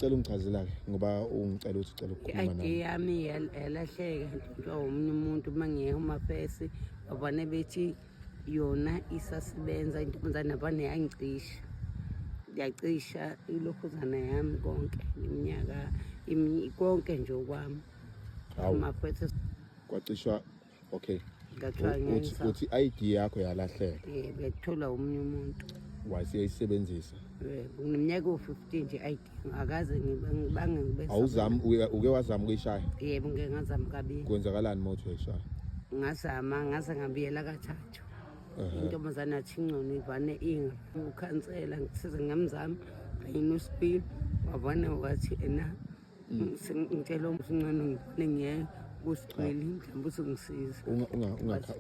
Cela ungichazela ke ngoba ungicela ukuthi ucela ukukhuluma nami. Idea yami yalahleka nje omunye umuntu uma ngiye uma fesi babane bethi yona isasebenza intombazane abane yangicisha. Yacisha ilokhuzana yami konke iminyaka konke nje okwami. Uma fesi kwacishwa okay ngathiwa ngenza uthi ID yakho yalahleka yebo yathola omunye umuntu wasiyayisebenzisa yebo ngimnyaka u-15 nje ID akaze ngibange ngibe awuzami uke wazama ukuyishaya yebo ngeke ngazama kabili kwenzakalani uma uthi uyishaya ngazama ngaze ngabiyela kathathu intombazane athi ingcono ivane inga ukhansela ngisize ngamzami kanye nosipili wavane wathi ena ngitshela umsincane ngibone ngiye kusigcweli mhlawumbe uthi ngisize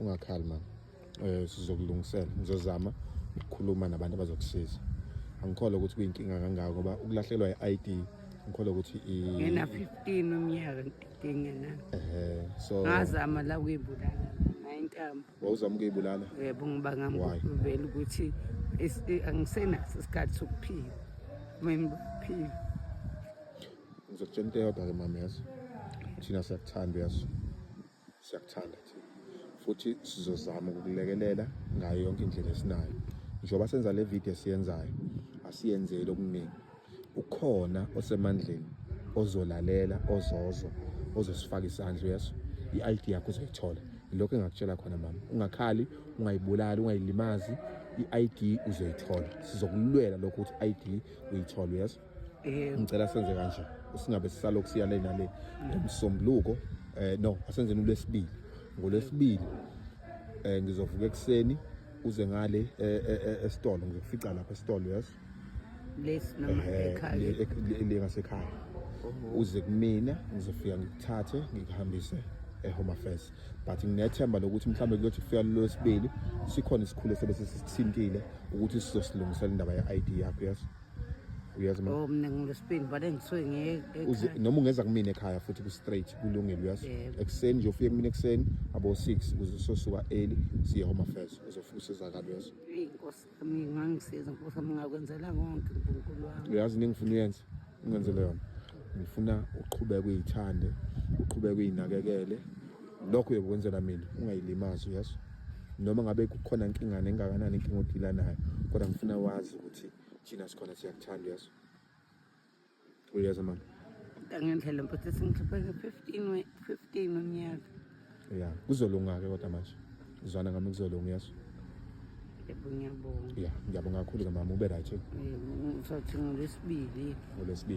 ungakhali mama um sizokulungisela ngizozama ukukhuluma nabantu abazokusiza angikholwa ukuthi kuyinkinga kangako ngoba ukulahlelwa i-i d ngikholwa ukuthi ngena 15 umnyaka ngidinge na so ngazama la kuyibulala nayo intambo wawuzama ukuyibulala yebo ngibanga ngivela ukuthi angisenaso isikhathi sokuphila mayiphila ngizokutshela into eyodwa ke mama yazo thina siyakuthanda yazo siyakuthanda thina futhi sizozama ukukulekelela ngayo yonke indlela esinayo njengoba senza le video esiyenzayo asiyenzeli okuningi ukhona osemandleni ozolalela ozozwa ozosifaka isandla yeso i-id yakho uzoyithola ilokho engakutshela khona mama ungakhali ungayibulali ungayilimazi i-id uzoyithola sizokulwela lokho ukuthi i-id uyithole yeso ngicela senze kanje singabe sisalokhu siya le nale ngomsombuluko um eh, no asenzeni ulwesibili ngolwesibili um ngizovuka ekuseni uze ngale eh, eh, esitolo ngizokufica lapha esitolo yes lesi noma ekhaya le ngasekhaya uze kumina ngizofika ngikuthathe ngikuhambise ehome affairs but nginethemba lokuthi mhlawumbe kuyothi kufika lolwesibili sikhona isikhulu esebe sisithintile ukuthi sizosilungisela indaba ye-id yakho yes uyazi ma oh mina ngilesibili but engisuke ngiye noma ungeza kumina ekhaya futhi ku straight kulungile uyazi ekuseni nje ufike kumina ekuseni abo 6 kuzososuka early siye home affairs uzofika usizakala uyazi inkosi ngangisiza nkosi wami ngakwenzela konke unkulunkulu wami uyazi into engifuna uyenze ungenzele yona ngifuna uqhubeke uyithande uqhubeke uyinakekele lokho uyokwenzela mina ungayilimazi uyazi noma ngabe kukhona inkingane engakanani inkinga odila nayo kodwa ngifuna wazi ukuthi thina sikhona siyakuthanda uyazi Uyeza mama. Ngendlela mfethu sengikhiphe nge-15 we 15 unyaka. Yeah, kuzolunga ke kodwa manje. Uzwana ngami kuzolunga yeso. Yebo ngiyabonga. Yeah, ngiyabonga kakhulu ke mama ube right. Yebo, ngizothi ngolesibili. Ngolesibili.